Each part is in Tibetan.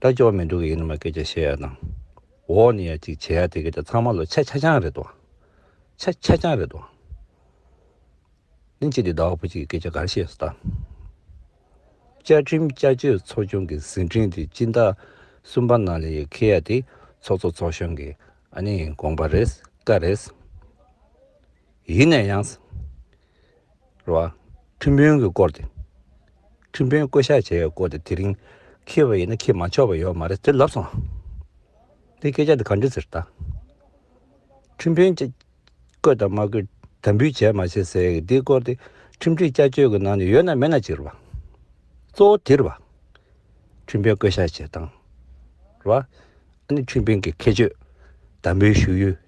ད་སྐྱོ་བ་མི་འདུག་གི་ཡིན་ནི་མ་སྐད་ཆ་བཤད་ཡག་དང། འོག་ནས་ཡ་གཅིག་བྱེད་ཡག་དེ་གི་ད་ཚང་མ་ལོ་ཆ་ཆ་ཆང་རེད་དོ། ཆ་ཆ་ཆང་རེད་དོ། ནི་ཅི་དེ་ཟླ་བ་བུ་གཅིག་གི་སྐད་ཆ་ག་རེ་བཤད་སོ་ད། བཅའ་ཁྲིམས་བཅའ་སྤྱོད་ཚོགས་ཆུང་གི་ཟིན་བྲིས་དེ་སྤྱི་ཟླ་གསུམ་པ་ནང་ལས་ཁེ་ཡ་དེ་ཚོགས་གཙོ་ཚོགས་གཞོན་གི་ཨ་ནེ་ཡིན་དགོངས་པ་རེད་ཀ་རེད། ཡིན་ནས་ཡང། རེད། ཁྲིམས་དཔོན་གྱིས་བསྐོར་ཏེ། ཁྲིམས་དཔོན་བསྐོས་བཞག་བྱས་བསྐོར་ཏེ་དེ་རིང་ཁེལ་བ་ཡིན་ན་ཁེལ་མ་ཆོག་པ་ཡོད་མ་རེད་ཟེར་ལབ་སོང། དེ་སྐད་ཆ་འདི་ག་འདྲི་ཟེར་ད། ཁྲིམས་དཔོན་བསྐོས་དང་མ་བསྐོས་དམ་འབུལ་བྱས་མ་བྱས་ཟེར་གི་འདི་བསྐོར་ཏེ་ཁྲིམས་སྒྲིག་བསྐྱར་བཅོས་ཀྱི་ནང་ནས་ཡོད་ན་མེད་ན་ཅིག་རེད་པ། གཙོ་བོ་དེ་རེད་པ། ཁྲིམས་དཔོན་བསྐོས་བཞག་བྱས་སྟངས་རེད་པ། ཨ་ནི་ཁྲིམས་དཔོན་གྱི་ཁེལ་བཅོས་དམ་འབུལ་ཞུ་ཡུལ།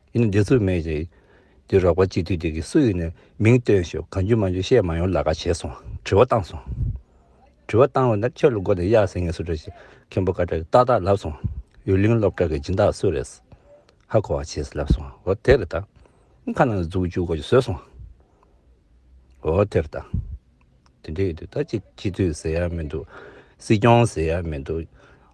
ཡིན་ན་འདི་ཚོ་མེད་ཅིག། འདི་རོགས་པ་སྤྱི་འཐུས་དེ་གི་སུ་ཡིན་ནས་མིང་བཏོན་ཞོག་གང་རྒྱུ་མ་རྒྱུ་བཤད་མ་ཡོང་ལ་ག་བྱས་སོང་དྲི་བ་བཏང་སོང། དྲི་བ་བཏང་བ་ན་ཁྱོད་ལ་མགོ་ནས་གཡག་ཟིན་ངེས་སུ་རེད་ཅེས་མཁན་པོ་བཀའ་ཁྲི་ཏག་ཏག་ལབ་སོང། ཡུལ་གླིང་སློབ་གྲྭ་གི་སྦྱིན་བདག་སུ་རེད། ཧ་གོ་བ་བྱས་ཟེར་ལབ་སོང་འོ་དེ་རེད་ད། ཁ་ནང་ལ་འཛུགས་བཅུག་གོ་ཅེས་བཟོས་སོང། འོ་དེ་རེད་ད། དེ་འདྲ་ཡོད་དུས་ད་ཅི་སྤྱི་འཐུས་ཟེར་ཡ་མི་འདུག་སྲིད་སྐྱོང་ཟེར་ཡ་མི་འདུག།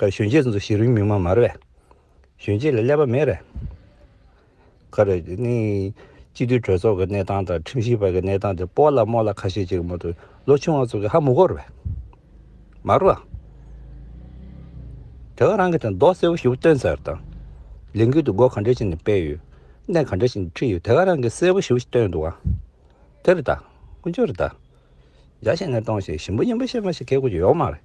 ཁར་གཞོན་སྐྱེས་ཚོ་ཞིག་རིང་མིག་མ་མར་བས། གཞོན་སྐྱེས་ལ་ཀླད་པ་མེད་རེད། ཁར་གནས་སྤྱི་འཐུས་གྲོས་ཚོགས་ཀྱི་གནས་སྟངས་དང་ཁྲིམས་ཞིབ་པ་གྱི་གནས་སྟངས་དེ་སྤོ་ལ་རྨོ་ལ་ཁ་ཤས་ཅིག་མ་གཏོགས་ལོ་ཆུང་བ་ཚོ་གི་ཧ་མུ་གོར་བས། མར་བ། དེ་བས་རང་གི་དེ་མདོག་གསལ་བོ་ཞིག་བསྟོན་ཚར་དང། ལས་འགུལ་དུ་སྒོ་གང་འདྲ་ཞིག་ནས་སྤེལ་ཡོད། གནས་གང་འདྲ་ཞིག་ནས་ཁྲིད་ཡོད་དེ་ག་རང་གི་གསལ་བོ་ཞིག་བསྟོན་འདུག་ཨང། དེ་རེད་ད། ཀུན་སྤྱོད་རེད་ད། རྒྱ་ཞེན་ནས་གཏོང་ཞེས་ཞིམ་པོ་ཡིན་པ་ཤེས་མ་ཤེས་ཁའི་གོ་རྒྱུ་ཡོག་མ་རེད།